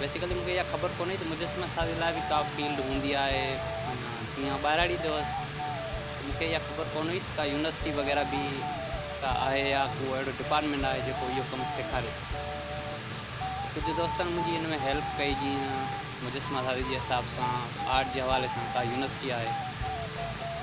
basically مون کي اها خبر ڪونهي ته مجسمه سازي لاء به ڪا فيلڊ هوندي آهي معنيٰ جيئن آئون ٻاهراڙي تي هوس ته مون کي اها خبر ڪونهي ته ڪا يونيورسٽي وغيره به ڪا آهي يا ڪو اهڙو ڊپارٽمينٽ آهي جيڪو اهو ڪم سيکاري ته ڪجهه دوستن منهنجي ان ۾ هيلپ ڪئي جيئن مجسمه سازي جي حساب سان آرٽ جي حوالي سان ڪا يونيورسٽي آهي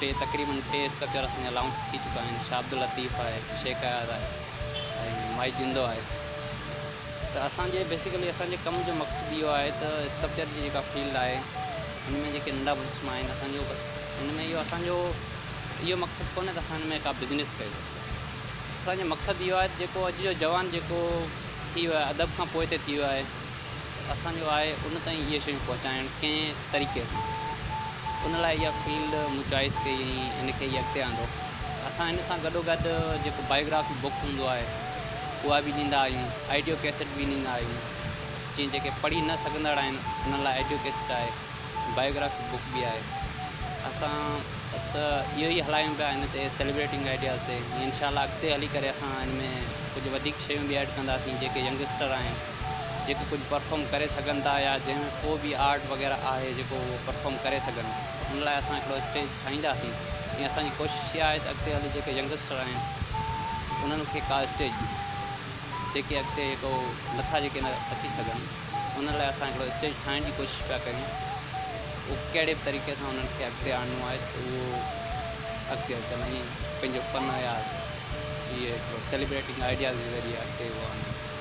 ٽي تقريبن ٽي اسڪرپچر اسان جا لانچ ٿي چڪا آهن شاهه عبداللطيف آهي شيخ اياز آهي ۽ مائي جندو آهي ته اسان جي بيسيڪلي اسان جي ڪم جو مقصد اهو آهي ته اسڪرپچر جي جيڪا فيلڊ آهي ان ۾ جيڪي ننڍا مجسما آهن اسان جو بس ان ۾ اهو اسان جو اهو مقصد ڪونهي ته اسان ان ۾ ڪا بزنس ڪيو اسان جو مقصد اهو آهي ته جيڪو اڄ جو جوان جيڪو ٿي ويو ادب کان پوئتي ٿي ويو آهي ته اسان جو آهي ان تائين اهي شيون پهچائڻ ڪنهن طريقي سان ان لاء اها فيلڊ مون چوائس ڪئي ۽ ان کي ئي اڳتي آندو اسان ان سان گڏو گڏ جيڪو بايوگرافي بڪ هوندو آهي اها به ڏيندا آهيون آڊيو ڪيسٽ به ڏيندا آهيون جيئن جيڪي پڙهي نه سگهندڙ آهن انهن لاء آڊيو ڪيسٽ آهي بايوگرافي بڪ به آهي اسان بس اهو ئي هلايون پيا ان تي سيلبريٽنگ آئيڊياز تي انشاء الله اڳتي هلي ڪري اسان ان ۾ ڪجهه وڌيڪ شيون به ايڊ ڪنداسين جيڪي ينگسٽر آهن جيڪي ڪجهه پرفارم ڪري سگهن ٿا يا جنهن ۾ ڪو به آرٽ وغيره آهي جيڪو هو پرفارم ڪري سگهن ان لاء اسان هڪڙو اسٽيج ٺاهينداسين ۽ اسان جي ڪوشش اها آهي ته اڳتي هلي جيڪي ينگسٽر آهن انهن کي ڪا اسٽيج ڏيون جيڪي اڳتي جيڪو نٿا جيڪي اچي سگهن ان لاء اسان هڪڙو اسٽيج ٺاهڻ جي ڪوشش پيا ڪريون اهو ڪهڙي به طريقي سان انهن کي اڳتي آڻڻو آهي ته اهو اڳتي اچن ۽ پنهنجو فن يا اهي هڪڙو سيليبريٽنگ آئيڊياز جي ذريعي اڳتي اهو آڻن